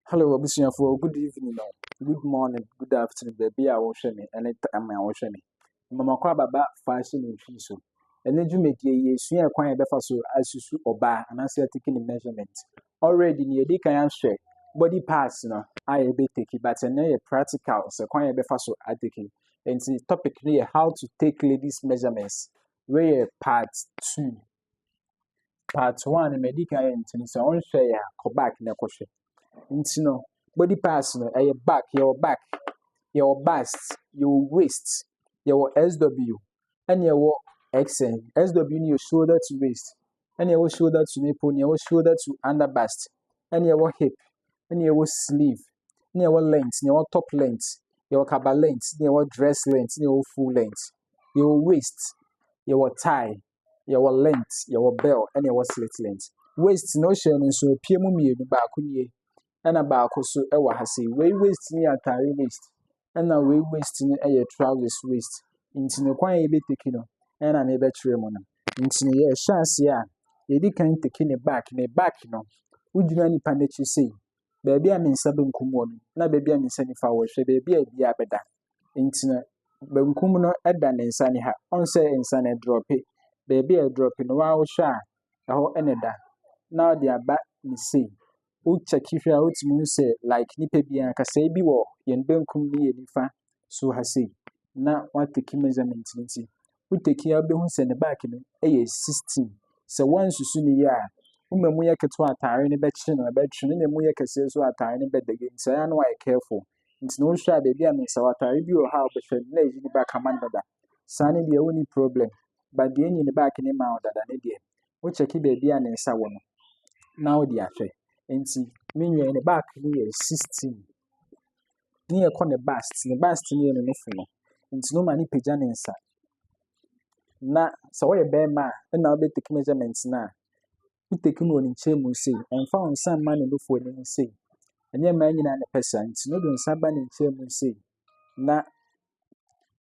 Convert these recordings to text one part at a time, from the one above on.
Hello abusuafoɔ, good evening o, good morning, good afternoon, baabi a wohwɛ me ne time a wohwɛ me. Mmamakɔ ababa faahye ne nhwi so. Ɛne dwumadie yi esua kwan a yɛbɛfa so asusu ɔbaa anaasɛ atiki ne measurement. Already nea yɛdi kan ahwɛ body parts no a yɛbɛtaki but ɛnɛ yɛ practical sɛ kwan a yɛbɛfa so ataki. Nti topic no yɛ how to take ladies measurements. Wei yɛ part two. part one ma ɛdi kan yɛ nti no sɛ wonhwɛeɛ a kɔ back na kɔhwɛ nti no body parts no ɛyɛ back yɛwɔ back yɛwɔ bust yɛwɔ waist yɛwɔ sw ɛne ɛwɔ xn sw no yɛ shoulder to waist ɛne ɛwɔ shoulder to nipple ɛne ɛwɔ shoulder to under bust ɛne ɛwɔ hip ɛne ɛwɔ sleeve ɛne ɛwɔ length ɛne ɛwɔ top length yɛwɔ kaba length ɛne ɛwɔ dress length ɛne ɛwɔ full length yɛwɔ waist yɛwɔ tie yɛwɔ lint, yɛwɔ bell, ɛna yɛwɔ slit lint. Waist no hyɛ no nso apue mu mmienu, baako nie, ɛna baako so ɛwɔ ha sei. Wei waist no yɛ atare waist, ɛna wei waist no ɛyɛ trousers waist. Nti no kwan a yɛbɛteki no, ɛna na yɛbɛkyerɛ mu no. Nti no yɛhyɛ aseɛ a, yɛdi kan teki ne back, ne back no, wogyina nipa no akyi sei, baabi a me nsa benkum wɔ no na baabi a me nsa nifa wɔ, hwɛ baabi a ebiara bɛda. Nti no, benkum no da ne nsa nifa. Ɔn sɛ nsa no ɛdrɔpe. Baabi a ɛdrɔpe no, waa wohwɛ a, ɛhɔ na ɛda. Na ɔde aba ne sei. Wokyɛke hwɛ a, wotumi hu sɛ like nipa biara kasɛe bi wɔ yɛn benkum ne yɛn nifa so ha sei. Na watake measurement nti, wo tɛkin a wobɛhu sɛ ne back no yɛ 16. Sɛ woansusu no yie a, wo ma mu yɛ ketewa atare no bɛkye no, ɛbɛtwe no, na mu yɛ kɛseɛ nso atare no bɛda yie. Nti ɛyɛ a na wayɛ careful. Nti na wohwɛ a baabi a mensa atare bi wɔ hɔ a wobɛhwɛ no na ɛyi ne back ama no dada. Saa no deɛ wonni problem. Ba deɛ ɛnyi ne back no ma wo dada no deɛ, wokyɛke baabi a ne nsa wɔ no na wode ahwɛ. Nti me nua yi ne back no yɛ 16. Ne yɛ kɔ ne bus ti ne bus ti ne yɛ no ne fɛ no nti no ma ne pagya ne nsa na sɛ ɔyɛ bɛɛ ma a ɛna ɔbɛ take measurement na wo take no wɔ ne nkyɛn mu sei ɛnfa wo nsa mma ne nufoɔ ne mu sei ɛnyɛ mmaa nyinaa ne pɛ saa nti no de nsa ba ne nkyɛn mu sei na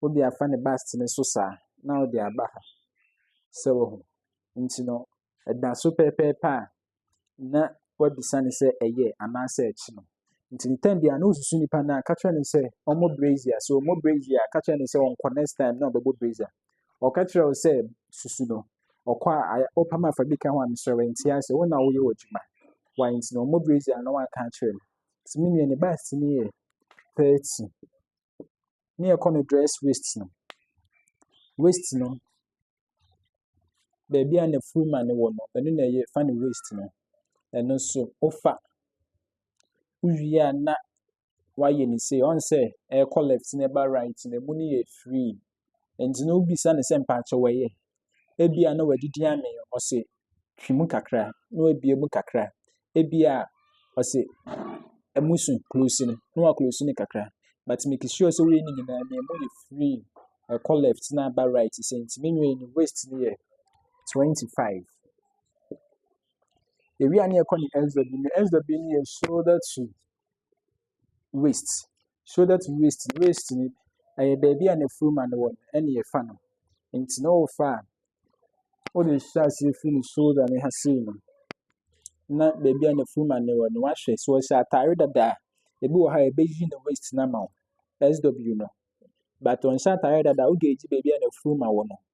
wode afa ne bus ti ne so saa na wode aba ha sɛ wɔ ho nti no ɛda so pɛpɛɛpɛ a na wabisa no sɛ ɛyɛ anaasɛ ɛkyi no. Nti ntɛm bia na osusu nipa no a ka kyerɛ no sɛ ɔmmɔ brazier. So ɔmmɔ brazier a ka kyerɛ no sɛ ɔnkɔ next time na ɔbɛbɔ brazier. Ɔka kyerɛ wo sɛ susu no ɔkɔ a ɔpam afa bi ka ho a mesrɛ wɛnti ase wo na woyɛ w'adwuma. Why nti na ɔmmɔ brazier na wanka akyerɛ no. Nti me nua ne baasi no yɛ 30. ne yɛkɔ no dress waist no, waist no, baabi a na full man no wɔ no, ɛno na yɛfa no waist no, ɛno nso wofa, wowie a na woayɛ no sei, ɔhu sɛ ɛrekɔ left na ɛreba right no, ɛmu no yɛ free, Nti no wobisa no sɛ mpakyɛ wɔyɛ. Ebia na wadidi amee, ɔse twi mu kakra na wabue mu kakra. Ebia ɔse ɛmu so close no na wa close no kakra. But make sure sɛ woyɛ ne nyinaa na ɛmu yɛ free. Ɛkɔ left na aba right sɛ nti me nua no waist no yɛ twenty five. Ewia ne ɛkɔ ne SW no, SW no yɛ shoulder to waist, shoulder to waist, waist no ɛyɛ baabi a nafuruma no wɔ no ɛne ɛfa no. Nti na ɔrefa a, wode hyɛ aseɛ firi ne shoulder no ha sei no na baabi a nafuruma no wɔ no wahwɛ. So ɔhyɛ ataare dada a, ebi wɔ ha a ɛbɛyi ne waist no ama wo, SW no. But ɔnhyɛ ataare dada a, wode gye baabi a nafuruma wɔ no.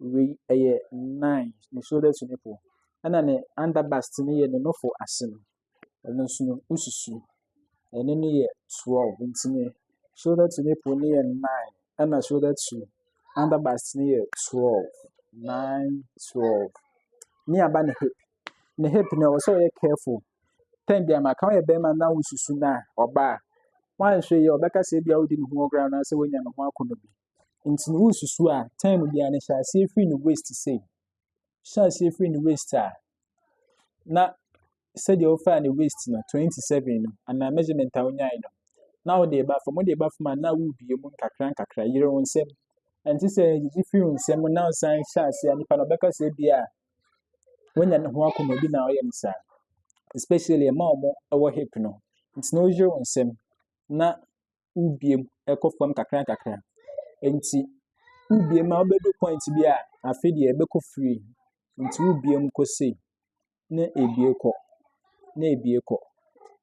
wei ɛyɛ nine ne shoulder to nipple ɛna ne under bust no yɛ ne nofo ase no ɛno nso no wosusu ɛno no yɛ twelve nti ne shoulder to nipple no yɛ nine ɛna shoulder to under bust no yɛ twelve nine twelve ne aba ne hip ne hip no ɛwɔ sɛ ɔyɛ careful tɛn bi ama kan yɛ bɛrima na wosusu na ɔbaa wɔanhwɛ yɛ ɔbɛka sɛ ebi a wodi ne ho ɔgra anaasɛ wonya ne ho akɔnɔ bi Nti no wosusu a time biara no hyɛ aseɛ firi ne waist sei. Hyɛ aseɛ firi ne waist a na sɛdeɛ wofaa ne waist no twenty seven no anaa measurement a wonyae no na wode ba fam wode ba fam a na wobie mu nkakra nkakra yere wo nsam. Ɛnte sɛ gyegye firi wo nsam na wosan hyɛ aseɛ a nipa no ɔbɛka sɛ bi a wonya ne ho akoma bi na ɔyɛ no saa. Especially ɛma wɔn ɛwɔ hip no. Nti na woyere wo nsam na wobue mu kɔ fam nkakrankakra. Enti wobue mu a, wobɛdu point bi a, afe deɛ ɛbɛkɔ free. Nti wobue mu kɔ sei, na ɛbue kɔ, na ɛbue kɔ.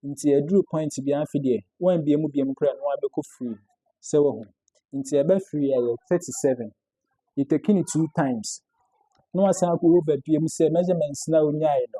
Nti ɛduru point bi a, afe deɛ woambue mu bio mu koraa na wabɛkɔ free. Sɛ wahu. Nti ɛbɛ free a yɛ 37. You taking it two times. Na wasan akɔ wobɛbue mu sɛ measurements na wonyaeɛ no,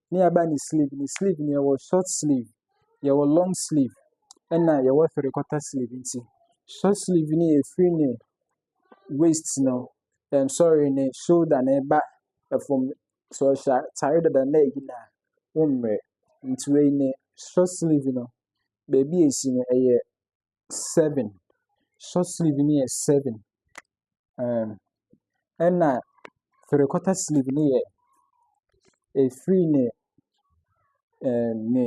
ne aba ne sleeve ne sleeve no yɛwɔ short sleeve yɛwɔ long sleeve ɛna yɛwɔ three quarter sleeve nti short sleeve no yɛ firi ne waist no ɛm sorry ne shoulder na ɛba ɛfam so ɔhyɛ atare dada na ɛyi na wɔn mmerɛ nti wei ne short sleeve no baabi esi no ɛyɛ. seven, short sleeve no yɛ seven, um, ɛna three quarter sleeve no yɛ ɛfiri ne um, ne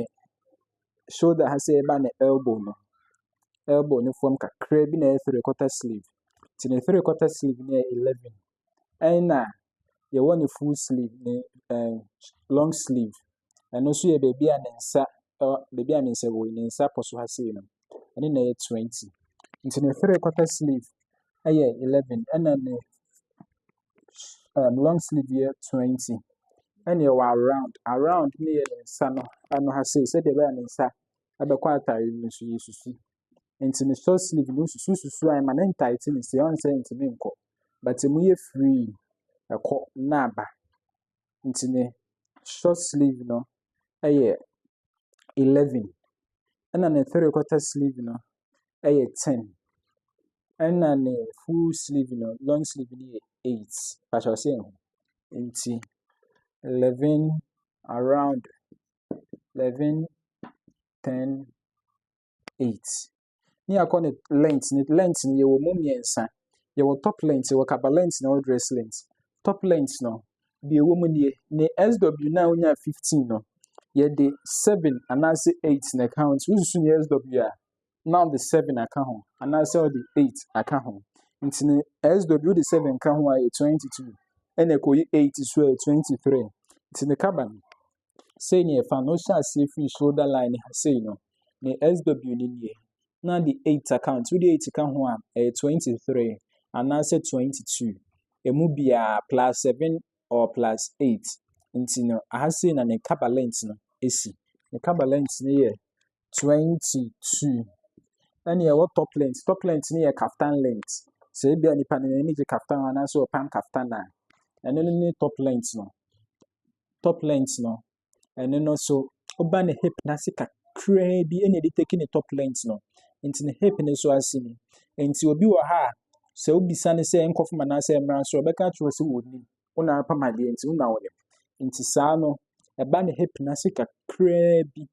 shoulder ha sɛ ɛba ne elbow no elbow no fam kakra bi na ɛyɛ three quarter sleeve nti ne three quarter sleeve no yɛ eleven ɛna yɛwɔ ne full sleeve ne ɛɛ long sleeve. Ɛno nso yɛ baabi a ne nsa ɛwɔ baabi a ne nsa wɔ yi ne nsa pɔso ha sei no ɛne na ɛyɛ twenty nti ne three quarter sleeve ɛyɛ eleven ɛna ne um, long sleeve yɛ twenty ɛna ɛwɔ around around ne yɛ ne nsa no ano ha sei sɛdeɛ ɛbɛyɛ ne nsa ɛbɛkɔ atare no so yɛ susu nti ne short sleeve no susu susu a ɛma ne ntaete no sie ɔnsɛ ntumi nkɔ but emu yɛ free ɛkɔ na aba nti ne short sleeve no ɛyɛ eleven ɛna ne three quarter sleeve no ɛyɛ ten ɛna ne full sleeve no long sleeve no yɛ eight pakyɛ ɔsɛ ɛho nti eleven around eleven ten. eight. Ne yɛakɔ ne length ne length no yɛwɔ mu mmiɛnsa yɛwɔ top length yɛwɔ kaba length na yɛwɔ dress length top length no deɛ ɛwɔ mu nie ne sw no a wonya fifteen no yɛde seven anaasɛ eight na ɛka ho nti wosusu ne sw a na ɔde seven aka ho anaasɛ ɔde eight aka ho nti ne sw wode seven ka ho a yɛ twenty two ɛna ɛkɔyi eight so a yɛ twenty three nti ne kaba no sei ne ɛfa no wohyɛ aseɛ firi shoulder line ha sei no ne sw no nie na de 8 account wode 8 ka ho a ɛyɛ 23 anaasɛ 22 ɛmu biara plus 7 or plus 8 nti no aha sei na ne kabalent no ɛsi ne kabalent no yɛ twenty two. Ɛna ɛwɔ top length. Top length no yɛ kaftan length. Sɛ ebi a nipa no n'ani gye kaftan ho anaasɛ ɔpam kaftan a, ɛno no ne top length no. Top length no, ɛno no so ɔba ne hip n'ase kakraa bi ɛna ɛde take ne top length no. Nti ne hip no so ase ni. Nti obi wɔ ha a, sɛ wobisa no sɛ nkɔfam anaasɛ mmra so, ɔbɛka akyerɛ sɛ wɔnim. Wo na apam adeɛ nti wo na wonim. Nti saa no, ɛba ne hip n'ase kakraa bi.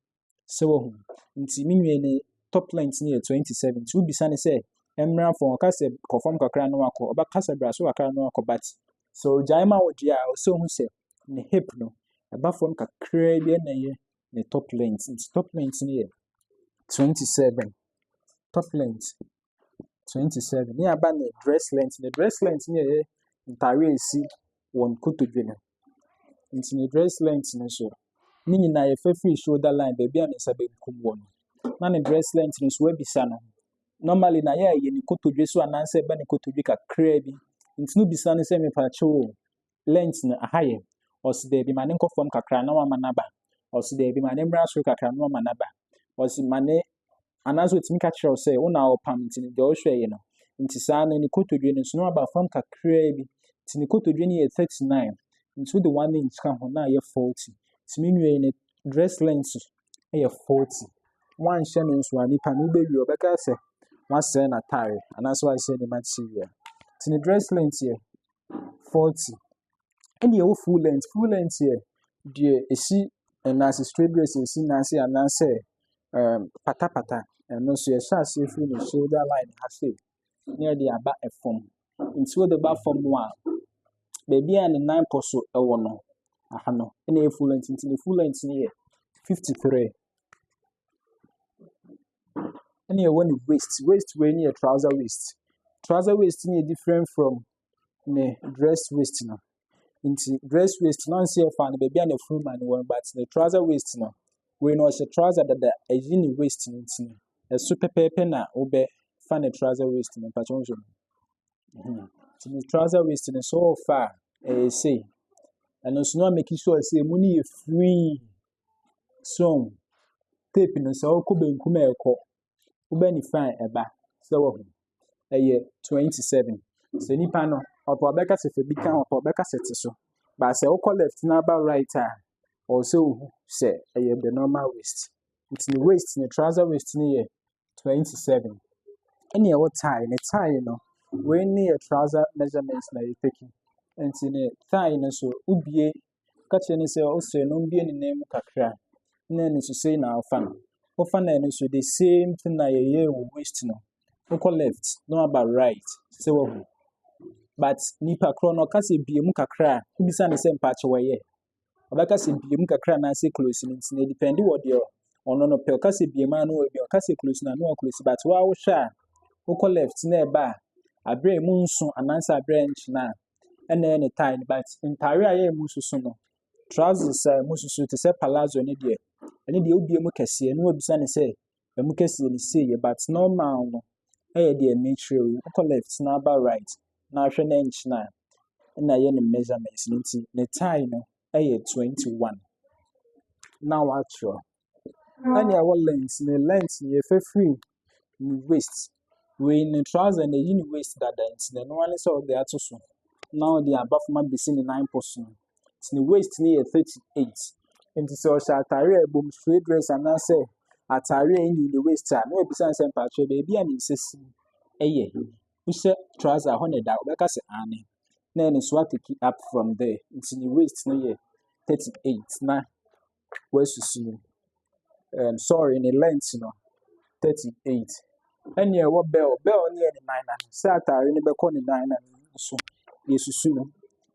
So wahu? Nti me nua ne top length no yɛ 27. Nti wobisa ne sɛ, mmra fam, ɔka sɛ kɔ fam kakra na wakɔ. Ɔba kasa bra so kakra na wakɔ but. So ogyae ma wo deɛ a, ɔsɛ ohu sɛ ne hip no, ɛba fam kakra bi na ɛyɛ ne top length. Nti top length no yɛ 27. Top length. 27. Ne aba ne dress length. Ne dress length ne ɛyɛ ntare a ɛsi wɔn kotodwe no. Nti ne dress length no so, ne nyinaa yɛfa firi shoulder line baabi a ne nsa benkum wɔ no. Na ne dress length no so abisa no. Normally na yɛ a ɛyɛ ne kotodwe so anaasɛ ɛba ne kotodwe kakraa bi. Nti no bisa no sɛ mepaakyɛw o, lɛnt no aha yɛ. Ɔse daabi ma ne nkɔ fam kakra na wama no aba. Ɔse daabi ma ne mmra soro kakra na wama no aba. Ɔse ma ne anaasɛ ɔtumi ka kyerɛ wo sɛ wo na ɔpam nti no deɛ ɔhwɛ yɛ no. Nti saa no ne kotodwe no nso no aba fam kakraa bi. Nti ne kotodwe no yɛ 39. Nti wode one inch ka ho na ayɛ 40. Nti me nua yi ne dress length yɛ 40. Wanhyɛ no nso a nipa no wobɛwie ɔbɛka sɛ wasɛe n'atare anaasɛ wasɛe ne material. Nti ne dress length yɛ forty. Ɛna ɛwɔ full length, full length yɛ deɛ ɛsi nan ase straight dress a ɛsi nan ase anaasɛ ɛɛm patapata. Ɛno nso yɛhyɛ aseɛ firi ne shoulder line ha sei na yɛde aba fam. Nti wode ba fam no a, baabi a ne nan kɔ so wɔ no, aha no ɛna ɛyɛ full length. Nti ne full length no yɛ fifty three. ɛna ɛwɔ ne waist, waist wei no yɛ trouser waist, trouser waist no yɛ different from ne dress waist no. Nti dress waist no anse ɛfa no baabi a n'afuru ma no wɔ no but ne trouser waist no, wei no ɔhyɛ trouser dada ɛyi ne waist no nti no, ɛso pɛpɛɛpɛ na wobɛfa ne trouser waist no, mpakyɛ wohwɛ mu. Mhm. Nti ne trouser waist no sɛ ɔɔfa a, ɛyɛ sei. Ɛno nso na make sure sɛ emu no yɛ free. Song, tape no sɛ ɔkɔ benkum a ɛkɔ, woba nifa a ɛba. Sɛ wɔho ɛyɛ 27. Sɛ nipa no ɔpɛ ɔbɛka sɛ fɛ bi ka ɔpɛ ɔbɛka sɛ te so. Ba sɛ ɔkɔ left na aba right a ɔsɛ ohu sɛ ɛyɛ the normal waist. Nti ne waist ne trouser waist no yɛ 27. Ɛne ɛwɔ tie ne tie no wei ne yɛ trouser measurement na yɛ taking. Nti ne tie no so wobie Ɔka kyerɛɛ no sɛ ɔsrɛ no ɔmbue ne nan mu kakra na ɛno nso sei na ɔfa no. Ɔfa no ɛno nso the same thing na yɛyɛɛ wɔ waist no. Wokɔ left na waba right sɛ wahu. But nipa korɔ no ɔka sɛ bue mu kakra a wobisa no sɛ mpaakyɛ wɔyɛ. Ɔbɛka sɛ bue mu kakra anaasɛ close no nti na ɛdipɛndi wɔ deɛ ɔno no pɛ. Ɔka sɛ bue mu a na wabue, ɔka sɛ close no a na waklose. But woa wohwɛ a wokɔ left na ɛba a aberɛ a ɛmu nso anaasɛ aberɛ a ɛnkyena a ɛna ɛyɛ ne tae no but ntaare a yɛ a ɛmu soso no trousers a ɛmu soso te sɛ palazzo ne deɛ ɛne deɛ wobie mu kɛseɛ na wabisa ne sɛ ɛmu kɛseɛ ne sei yɛ but normal no ɛyɛ deɛ mekyerɛ yi wokɔ left na aba right na ahwɛ na nkyena ɛna ɛyɛ ne measurements no nti ne tae no ɛyɛ 21 na watwerɛ na nea ɛwɔ lent ne lent no yɛfa firi ne waist wei ne trouser na ɛyi ne waist dada nti na ɛno ne sɛ ɔde ato so na ɔde aba fam abɛsi ne nan po so nti ne waist no yɛ thirty eight nti sɛ ɔhyɛ ataare a ɛbom straight dress anaasɛ ataare a ɛnyi ne waist a na wabisa sɛ mpakyɛ baabi a ne nsa si ɛyɛ wohyɛ trouser a hɔ na ɛda wobɛka sɛ aane na ɛne so ateki up from there nti ne waist no yɛ thirty eight na woasusu mu. Um, sorry, ne length no, 38. Ɛne ɛwɔ bell, bell ne yɛ ne nan nan. Sɛ atare no bɛkɔ ne nan nan so, yɛsusu no.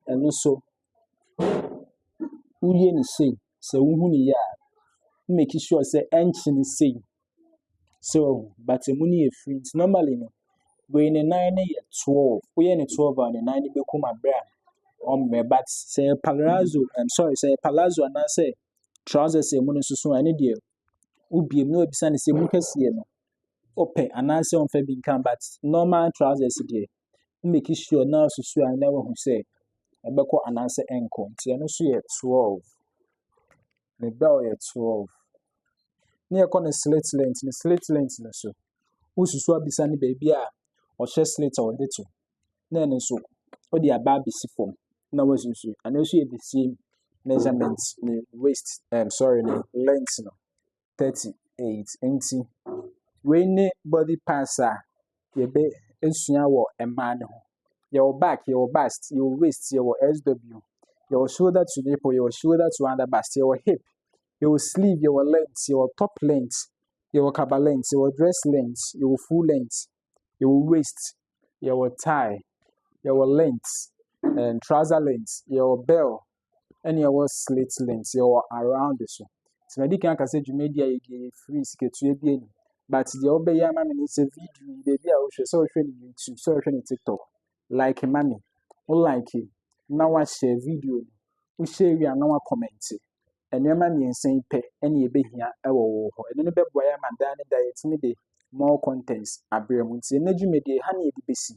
Ɛno so, woyɛ ne sei, sɛ wohu ne yɛ a, make sure sɛ ɛnkyene sei. So wahu? But emu no yɛ free nti normally no wei ne nan no yɛ twelve. Woyɛ ne twelve a ne nan no bɛkum abere a ɔmmrɛ but sɛ yɛ palazzo um, sorry sɛ yɛ palazzo anaasɛ trousers a emu no soso a ɛne deɛ wobie mu na wabisa no sɛ emu kɛseɛ no ɔpɛ anaasɛ ɔmfa bi nka but normal trousers deɛ Wo make sure na woasusu a na woahu sɛ ɛbɛkɔ anaasɛ ɛnkɔ. Nti ɛno nso yɛ 12. Ne bell yɛ 12. Ne yɛkɔ ne slit length, ne slit length no so. Wosusu abisa ne baabi a ɔhyɛ slit a ɔde to. Na ɛno nso wode aba abɛsi fam na woasusu. Ɛno nso yɛ the same measurement ne waist, um, sorry, ne length no. thirty eight nti wei ne body parts a yɛbɛ esua wɔ mmaa no ho yɛwɔ back yɛwɔ bust yɛwɔ waist yɛwɔ sw yɛwɔ shoulder to nipple yɛwɔ shoulder to under bust yɛwɔ hip yɛwɔ sleeve yɛwɔ length yɛwɔ top length yɛwɔ kaba length yɛwɔ dress length yɛwɔ full length yɛwɔ waist, yɛwɔ taae, yɛwɔ lɛnt, trɔsa lɛnt, yɛwɔ bɛɛl, ɛna yɛwɔ slɛt lɛnt, yɛwɔ arawond nso. Nti madi kan aka sɛ dwumadie a yɛdi yɛ firi sikatua bi anim. But deɛ wobɛyɛ ama me ne sɛ video yi baabi a wohwɛ sɛ wohwɛ no YouTube sɛ wohwɛ no TikTok like ma me, wo like na woahyɛ video no, wo hyɛ wie a na woakɔmɛnte. Nneɛma mmiɛnsa yi pɛ ɛna yɛbɛhia wɔ wo hɔ. Ɛno no bɛboa yɛ ama daa ne daa yɛtumi de more contents abrɛ mu. Nti ɛnɛ dwumadie ha ne yɛde bɛsi.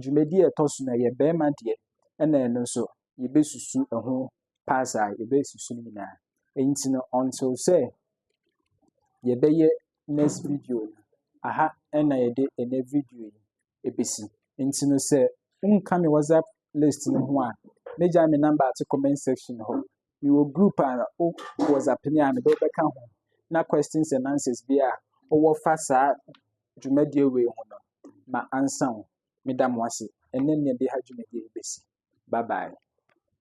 Dwumadie a ɛtɔ so no ɛyɛ bɛrima deɛ ɛna ɛno nso yɛbɛsusu ɛho pass a yɛbɛsusu no nyinaa. Nti no until sɛ yɛbɛyɛ next video no aha ɛna yɛde ɛnɛ video yi ebesi. Ntsi no sɛ wonnka me WhatsApp list no ho a, megyae me number ato comment section hɔ. Mewɔ group a ɔwɔ WhatsApp no a mede wo bɛka ho na questions and answers bi a ɔwɔ fa saa dwumadie wei ho no, ma ansa wo. Meda mo ase. Ɛnnɛ nea ɛde ha dwumadie yi bɛsi. Bye bye.